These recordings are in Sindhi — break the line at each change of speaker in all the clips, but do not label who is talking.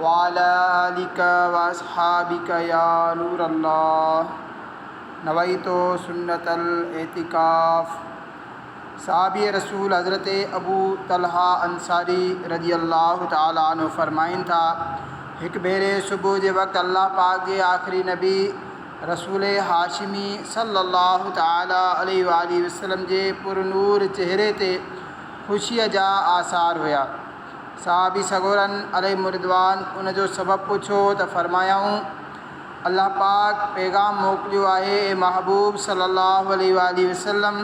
وعلي آلک واصحابک يا نور الله نويت سنت الاعتکاف صحابي رسول حضرت ابو طلحه انصاري رضي الله تعالي عنه فرمائن ٿا، هڪ ڀيري صبح جي وقت الله پاڪ جي آخري نبي رسول هاشمي صلي الله تعالي عليه واٰله وسلم جي پر نور چهري تي خوشيء جا آثار هيا. صحابي سڳورن عليهم الرضوان ان جو سبب پڇيو ته فرمايائون، الله پاڪ پيغام موڪليو آهي، اي محبوب صلّي اللّٰه عليه واٰله وسلّم!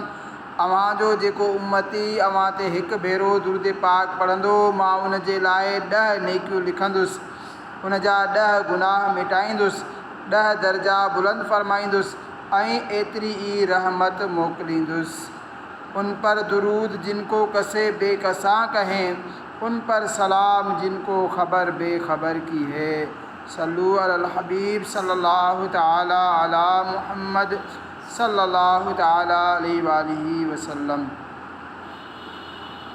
اوهان جو جيڪو امّتي اوهان تي هڪ ڀيرو درود پاڪ پڙهندو، مان ان جي لاء ڏهه نيڪيون لکندس، ان جا ڏهه گناهه مٽائيندس، ڏهه درجا بلند فرمائيندس ۽ ايتري ئي رحمت موڪليندس. ان پر درود جن کو کسي بي کسان ڪهين، ان پر سلام جن کو خبر بي خبر ڪي هي، صلو علی الحبيب صلّي الله تعالٰي علی محمّد صلّي الله تعالٰي عليه واٰله وسلّم.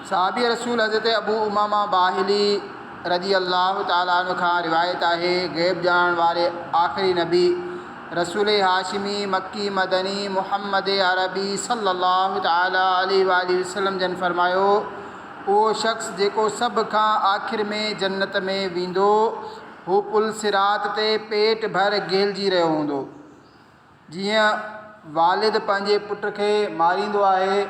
صحابي رسول حضرت ابو امامه باهلي رضي الله تعالٰي عنه کان روايت آهي، غيب ڄاڻڻ واري آخري نبي، رسول هاشمي مڪي مدني محمد عربي صلّي اللّٰه تعالٰي عليه واٰله وسلّم جن فرمايو، اهو شخص جيڪو سڀ کان آخر ۾ جنّت ۾ ويندو، هو پل صراط تي پيٽ ڀر گهلجي رهيو هوندو. جيئن والد پنهنجي پٽ کي ماريندو آهي.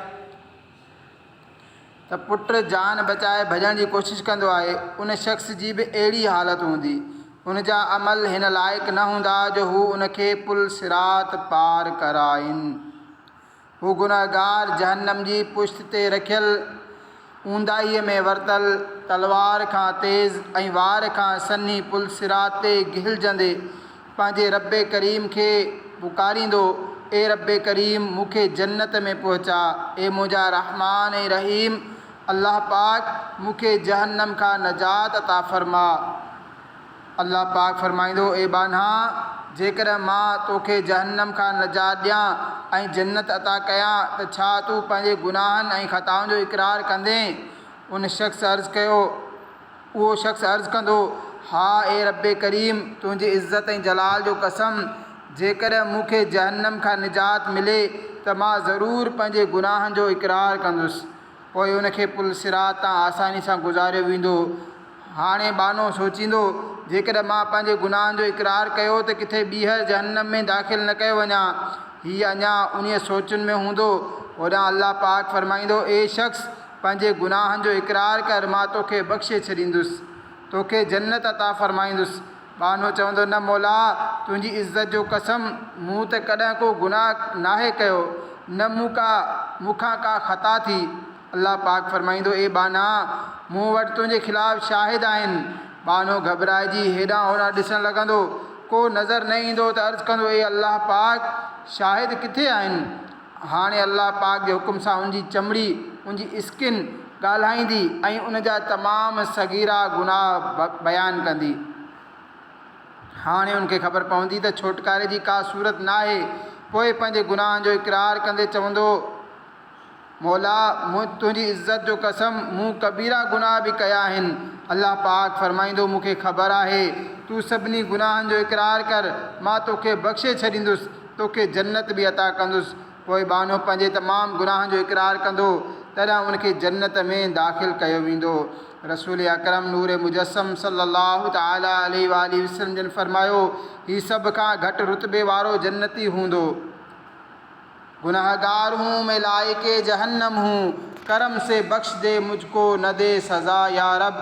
ته پٽ جان بچائي ڀڄڻ جي ڪوشش ڪندو آهي، ان شخص جي به اهڙي ئي حالت هوندي. هن جا عمل هن لائق نه هوندا جو هو ان کي پل صراط پار ڪرائين. هو گنهگار جهنم جي پشت تي رکيل اونداهيء ۾ ورتل تلوار کان تيز ۽ وار کان سنهي پل صراط تي گهلجندي، پنهنجي ربّ ڪريم کي پڪاريندو، اي ربّ ڪريم مون کي جنّت ۾ پهچاء، اي منهنجا رحمان ۽ رحيم الله پاڪ مون کي جهنّم کان نجات عطا فرماء. الله پاڪ فرمائيندو، اي ٻانها! جيڪڏهن مان تو کي جهنّم کان نجات ڏيان ۽ جنّت عطا ڪيان ته ڇا تون پنهنجي گناهن ۽ خطائن جو اقرار ڪندين؟ ان شخص عرض ڪيو، اهو شخص عرض ڪندو، ها اي ربّ ڪريم! تنهنجي عزت ۽ جلال جو قسم! جيڪڏهن مون کي جهنّم کان نجات ملي ته مان ضرور پنهنجي گناهن جو اقرار ڪندس. پوء ان کي پل صراط تان آساني سان گذاريو ويندو. هاڻي ٻانهو سوچيندو، جيڪڏهن مان پنهنجي گناهن جو اقرار ڪيو ته ڪٿي ٻيهر جهنّم ۾ داخل نه ڪيو وڃان. هي اڃا انهيء سوچن ۾ هوندو، هوڏانهن الله پاڪ فرمائيندو، اي شخص! پنهنجي گناهن جو اقرار ڪر مان توکي بخشي ڇڏيندس توکي جنت عطا فرمائيندس ٻانهو چوندو نه مولا تنهنجي عزت جو قسم مون ته ڪڏهن ڪو گناهه ناهي ڪيو نه مون ڪا مون کان ڪا خطا ٿي الله پاڪ فرمائيندو اي ٻانها مون وٽ تنهنجي خلاف شاهد آهن ٻانهو گهٻرائجي هيڏانهن هوڏانهن ڏسڻ لڳندو ڪو نظر نه ايندو ته عرض ڪندو اي الله پاڪ شاهد ڪٿي آهن؟ هاڻي الله پاڪ جي حڪم سان ان جي چمڙي، ان جي Skin، ڳالهائيندي ۽ ان جا تمام صغيرا گناهه بيان ڪندي. هاڻي ان کي خبر پوندي ته ڇوٽڪاري جي ڪا صورت ناهي. پوء پنهنجي گناهن جو اقرار ڪندي چوندو، مولا! مون تنهنجي عزت جو قسم مون ڪبيرا گناهه به ڪيا آهن. الله پاڪ فرمائيندو، مون کي خبر آهي، تون سڀني گناهن جو اقرار ڪر، مان توکي بخشي ڇڏيندس. توکي جنت به عطا ڪندس. پوء ٻانهو پنهنجي تمام گناهن جو اقرار ڪندو، تڏهن ان کي جنت ۾ داخل ڪيو ويندو. رسول اڪرم نور مجسم صلّي اللّٰه تعالٰي عليه واٰله وسلّم جن فرمايو، هي سڀ کان گهٽ رتبي وارو جنتي هوندو. گنهگار هون مين لائق جهنّم هون، ڪرم سي بخش دي مجھ ڪو نه دي سزا يارب.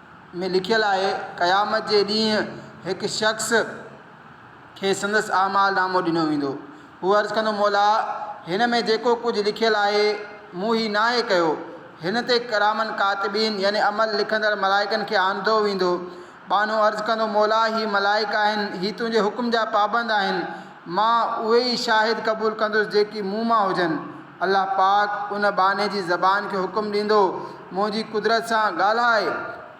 ۾ لکيل آهي، قيامت جي ڏينهن هڪ شخص کي سندس اعمال نامو ڏنو ويندو. هو عرض ڪندو، مولا! هن ۾ جيڪو ڪجهه لکيل آهي، مون هي ناهي ڪيو. هن تي ڪراما ڪاتبين يعني عمل لکندڙ ملائڪن کي آندو ويندو. ٻانهو عرض ڪندو، مولا! هي ملائڪ آهن، هي تنهنجي حڪم جا پابند آهن، مان اهي ئي شاهد قبول ڪندس جيڪي مون مان هجن. الله پاڪ ان ٻانهي جي زبان کي حڪم ڏيندو، منهنجي قدرت سان ڳالهاء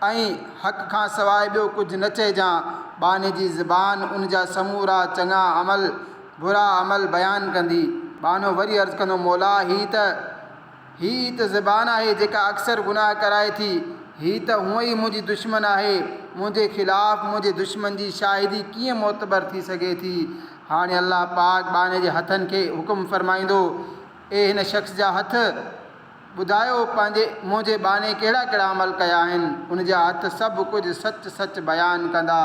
۽ حق کان سواء ٻيو ڪجهه نه چئجان. ٻانهي جي زبان ان جا سمورا چڱا عمل، برا عمل بيان ڪندي. ٻانهو وري عرض ڪندو، مولا هي ته هي ئي ته زبان آهي جيڪا اڪثر گناهه ڪرائي ٿي. هي ته هونء ئي منهنجي دشمن آهي، منهنجي خلاف منهنجي دشمن جي شاهدي ڪيئن معتبر ٿي سگهي ٿي؟ هاڻي الله پاڪ ٻانهي جي هٿن کي حڪم فرمائيندو، اي هن شخص جا هٿ! ٻڌايو پنهنجي منهنجي ٻانهي ڪهڙا ڪهڙا عمل ڪيا آهن؟ ان جا هٿ سڀ ڪجهه سچ سچ بيان ڪندا.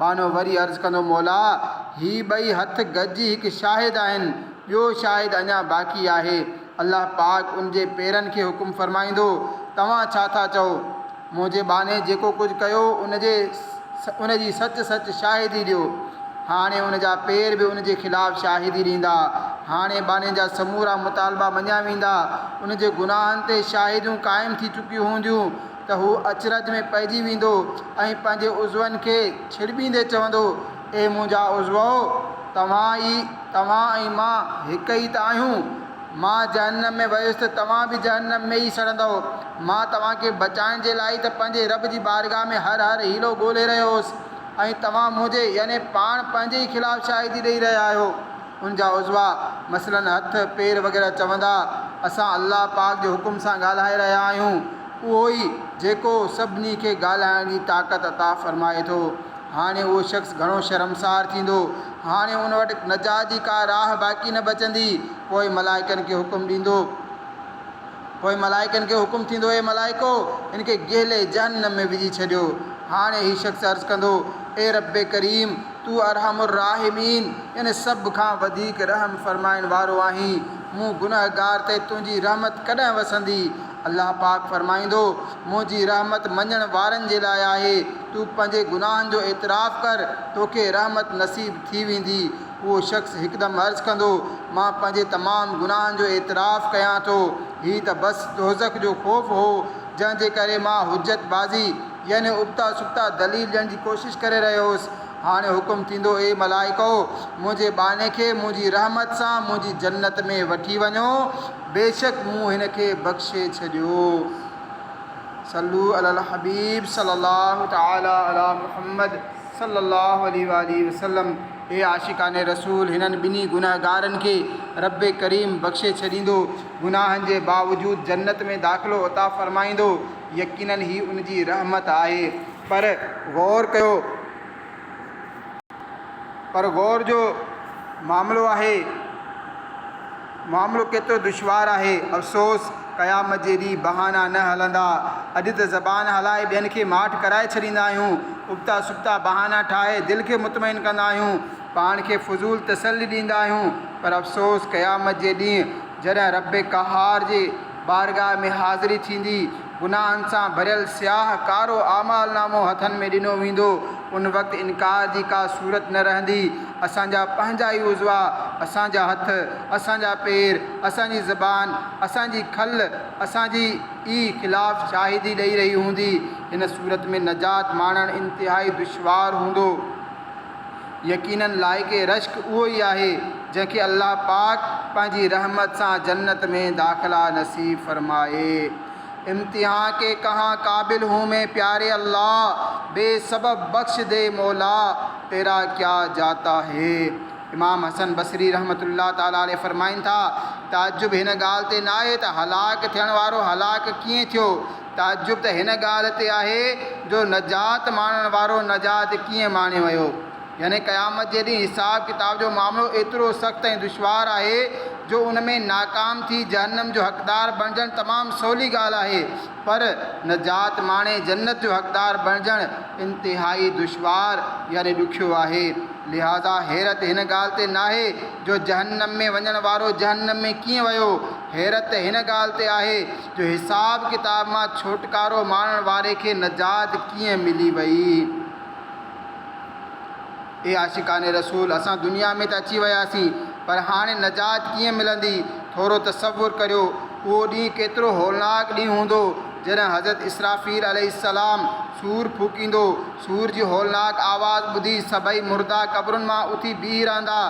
ٻانهو وري عرض ڪندو، مولا! هي ٻئي هٿ گڏجي هڪ شاهد آهن، ٻيو شاهد اڃا باقي آهي. الله پاڪ ان جي پيرن کي حڪم فرمائيندو، توهان ڇا ٿا چئو؟ منهنجي ٻانهي جيڪو ڪجهه ڪيو ان جي ان جي سچ سچ شاهدي ڏيو. هاڻي ان جا پير به ان جي خلاف شاهدي ڏيندا. هاڻي ٻانهي جا سمورا مطالبا مڃيا ويندا. ان جي گناهن تي شاهديون قائم ٿي چڪيون هونديون ته هو اچرج ۾ پئجي ويندو ۽ پنهنجي عضون کي ڇڙٻيندي چوندو، اي منهنجا عضوؤ! توهان ئي توهان ۽ مان هڪ ئي ته آهيون. مان جهنم ۾ ويس ته توهان به جهنم ۾ ئي سڙندؤ. مان توهان کي بچائڻ جي لاء ئي ته پنهنجي رب جي بارگاهه ۾ هر هر حيلو ڳولهي رهيو هوس ۽ توهان منهنجي، يعني پاڻ پنهنجي ئي خلاف شاهدي ڏيئي رهيا آهيو. ان جا عضوا، مثلاً هٿ، پير وغيره چوندا، اسان الله پاڪ جي حڪم سان ڳالهائي رهيا آهيون. اهو ئي جيڪو سڀني کي ڳالهائڻ جي طاقت عطا فرمائي ٿو. هاڻي اهو شخص گهڻو شرمسار ٿيندو. هاڻي هن وٽ نجات جي ڪا راهه باقي نه بچندي. پوء ملائڪن کي حڪم ڏيندو. پوء ملائڪن کي حڪم ٿيندو، اي ملائڪو! هن کي گهلي جهنم ۾ وجهي ڇڏيو. هاڻي هي شخص عرض ڪندو، اي ربّ ڪريم! تون ارحم الراحمين يعني سڀ کان وڌيڪ رحم فرمائڻ وارو آهين. مون گنهگار تي تنهنجي رحمت ڪڏهن وسندي؟ الله پاڪ فرمائيندو، منهنجي رحمت مڃڻ وارن جي لاء آهي، تون پنهنجي گناهن جو اعتراف ڪر، توکي رحمت نصيب ٿي ويندي. اهو شخص هڪدم عرض ڪندو، مان پنهنجي تمام گناهن جو اعتراف ڪيان ٿو، هي ته بس دوزخ جو خوف هو، جنهن جي ڪري مان حجت بازي يعني ابتا سبتا دليل ڏيڻ جي ڪوشش ڪري رهيو هوس. هاڻي حڪم ٿيندو، اي ملائڪؤ! منهنجي ٻانهي کي منهنجي رحمت سان منهنجي جنت ۾ وٺي وڃو. بيشڪ مون هن کي بخشي ڇڏيو. صلو علی الحبيب صلّي الله تعالٰي عليٰ محمّد صلّي الله عليه واٰله وسلّم اي عاشقان رسول! هنن ٻنهي گنهگارن کي ربّ ڪريم بخشي ڇڏيندو، گناهن جي باوجود جنّت ۾ داخلو عطا فرمائيندو، يقيناً هي ان جي رحمت آهي. پر غور ڪيو! پر غور جو معاملو آهي، معاملو ڪيترو دشوار آهي. افسوس! قيامت جي ڏينهن بهانا نه هلندا. اڄ ته زبان هلائي ٻين کي ماٺ ڪرائي ڇڏيندا آهيون. ابتا سبتا بهانا ٺاهي دل کي مطمئن ڪندا آهيون. پاڻ کي فضول تسلي ڏيندا آهيون. پر افسوس! قيامت جي ڏينهن جڏهن رب قهار جي. بارگاھ ۾ حاضري ٿيندي، گناھن سان ڀريل سياھ ڪارو اعمال نامو ھٿن ۾ ڏنو ويندو، ان وقت انڪار جي ڪا صورت نه رھندي، اسان جا پنھنجا ئي عضوا، اسان جا ھٿ، اسان جا پير، اسان جي زبان، اسان جي کل، اسان جي ئي خلاف شاھدي ڏئي رھي ھوندي، ھن صورت ۾ نجات ماڻڻ انتھائي دشوار ھوندو. يقينن لائق رشڪ اهو ئي آهي جنهن کي الله پاڪ پنهنجي رحمت سان جنت ۾ داخلا نصيب فرمائي. امتحان ڪي ڪهان قابل هون مين پياري الله بي سبب بخش دي مولا تيرا ڪيا جاتا هي امام حسن بصري رحمة الله تعالٰي عليه فرمائين ٿا تعجب هن ڳالهه تي ناهي ته هلاڪ ٿيڻ وارو هلاڪ ڪيئن ٿيو تعجب ته هن ڳالهه تي آهي جو نجات ماڻڻ وارو نجات ڪيئن ماڻي ويو؟ يعني قيامت جي ڏينهن حساب ڪتاب جو معاملو ايترو سخت ۽ دشوار آهي جو ان ۾ ناڪام ٿي جهنم جو حقدار بڻجڻ تمام سولي ڳالهه آهي پر نجات ماڻي جنت جو حقدار بڻجڻ انتهائي دشوار يعني ڏکيو آهي لهذا حيرت هن ڳالهه تي ناهي جو جهنم ۾ وڃڻ وارو جهنم ۾ ڪيئن ويو حيرت ته هن ڳالهه تي آهي جو حساب ڪتاب مان ڇوٽڪارو ماڻڻ واري کي نجات ڪيئن ملي وئي. اي عاشقان رسول! اسان دنيا ۾ ته اچي وياسين، پر هاڻي نجات ڪيئن ملندي؟ ٿورو تصور ڪريو، اهو ڏينهن ڪيترو هولناڪ ڏينهن هوندو، جڏهن حضرت اسرافيل عليه السلام سور ڦوڪيندو. سور جي هولناڪ آواز ٻڌي سڀئي مردا قبرن مان اٿي بيهي رهندا.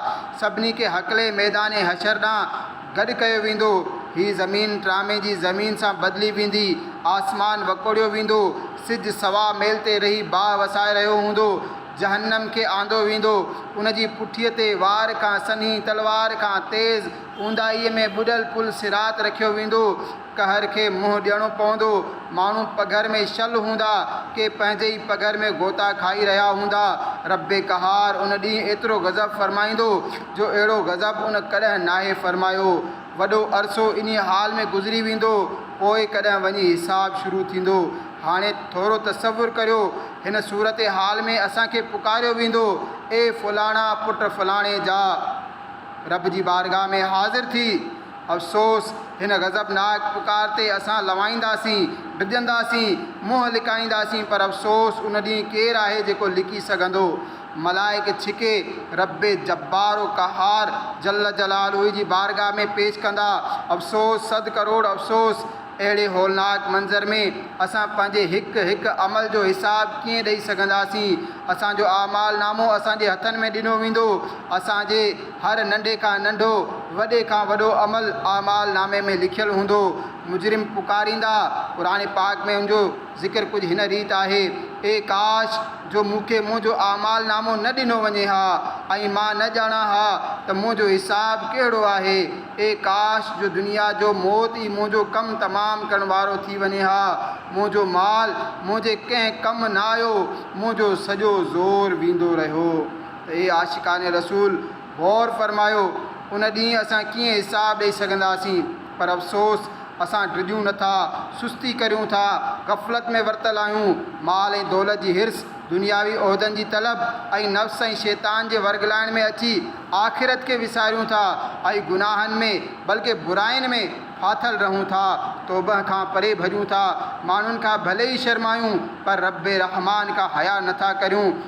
سڀني کي هڪلي ميدان حشر ڏانهن گڏ ڪيو ويندو، هي زمين ٽرامي جي زمين سان بدلي ويندي، آسمان وڪوڙيو ويندو، سج سوا ميل تي رهي باهه وسائي رهيو هوندو، جهنم کي آندو ويندو، ان جي پٺيء تي وار کان سنهي، تلوار کان تيز، اونداهيء ۾ ٻڏل پل صراط رکيو ويندو، قهر کي منهن ڏيڻو پوندو. ماڻهو پگهر ۾ شل هوندا، ڪي پنهنجي ئي پگهر ۾ غوطا کائي رهيا هوندا. ربّ قهار ان ڏينهن ايترو غضب فرمائيندو، جو اهڙو غضب ان ڪڏهن ناهي فرمايو. وڏو عرصو انهيء حال ۾ گذري ويندو، پوء ڪڏهن وڃي حساب شروع ٿيندو. هاڻي ٿورو تصور ڪريو، هن صورتحال ۾ اسان کي پڪاريو ويندو، اي فلاڻا پٽ فلاڻي جا! ربّ جي بارگاهه ۾ حاضر ٿي، افسوس! هن غضبناڪ پڪار تي اسان لوائينداسين، ڊڄنداسين، منهن لڪائينداسين پر افسوس ان ڏينهن ڪير آهي جيڪو لڪي سگهندو؟ ملائڪ ڇڪي ربّ جبّار و قهّار جلّ جلالهه جي بارگاهه ۾ پيش ڪندا. افسوس! صد ڪروڙ افسوس! اهڙي هولناڪ منظر ۾ اسان پنهنجي هڪ هڪ عمل جو حساب ڪيئن ڏئي سگهنداسين؟ اسان جو اعمال نامو اسان جي هٿن ۾ ڏنو ويندو، اسان جي. هر ننڍي کان ننڍو، وڏي کان وڏو عمل اعمال نامي ۾ لکيل هوندو. مجرم پڪاريندا، قرآن پاڪ ۾ ان جو ذڪر ڪجهه هن ريت آهي، اي ڪاش! جو مون کي منهنجو اعمال نامو نه ڏنو وڃي ها ۽ مان نه ڄاڻان ها ته منهنجو حساب ڪهڙو آهي. اي ڪاش! جو دنيا جو موت ئي منهنجو ڪم تمام ڪرڻ وارو ٿي وڃي ها. منهنجو مال منهنجي ڪنهن ڪم نه آيو، منهنجو سڄو زور ويندو رهيو. اي عاشقان رسول! غور فرمايو، ان ڏينهن اسان ڪيئن حساب ڏئي سگهنداسين؟ پر افسوس! اسان ڊڄون نه ٿا، سستي ڪريون ٿا، غفلت ۾ ورتل آهيون. مال ۽ دولت جي حرص، دنياوي عهدن جي طلب ۽ نفس ۽ شيطان جي ورغلائڻ ۾ اچي آخرت کي وساريون ٿا ۽ گناهن ۾، بلڪه براين ۾، ڦاٿل رهون ٿا. توبه کان پري ڀڄون ٿا. ماڻهن کان ڀلي ئي شرمايون، پر رب رحمان کان حيا نه ٿا ڪريون.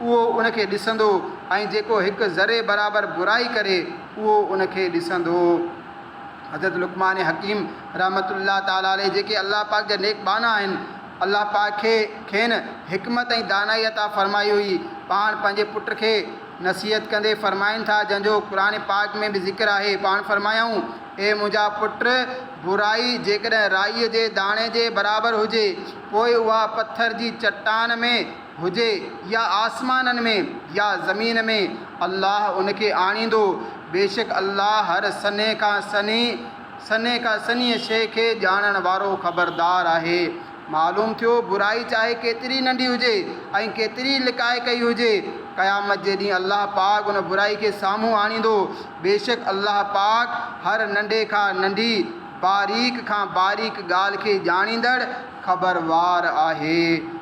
اهو ان کي ڏسندو ۽ جيڪو هڪ ذري برابر برائي ڪري اهو ان کي ڏسندو. حضرت لقمان حڪيم رحمة الله تعالٰي عليه جيڪي الله پاڪ جا نيڪ ٻانها آهن، الله پاڪ کي کين حڪمت ۽ دانائي عطا فرمائي هئي، پاڻ پنهنجي پٽ کي نصيحت ڪندي فرمائن ٿا جنهن جو قرآن پاڪ ۾ به ذڪر آهي، پاڻ فرمايائون، اي منهنجا پٽ! برائي جيڪڏهن رائيء جي داڻي جي برابر هجي، پوء اها پٿر جي چٽان ۾. هجي يا آسمانن ۾ يا زمين ۾ الله ان کي آڻيندو، بيشڪ الله هر سنهي کان سنهي، سنهي کان سنهيء شيء کي ڄاڻڻ وارو، خبردار آهي. معلوم ٿيو، برائي چاهي ڪيتري ئي ننڍي هجي ۽ ڪيتري ئي لڪائي ڪئي هجي، قيامت جي ڏينهن الله پاڪ ان برائي کي سامهون آڻيندو، بيشڪ الله پاڪ هر ننڍي کان ننڍي، باريڪ کان باريڪ ڳالهه کي ڄاڻيندڙ، خبروار آهي.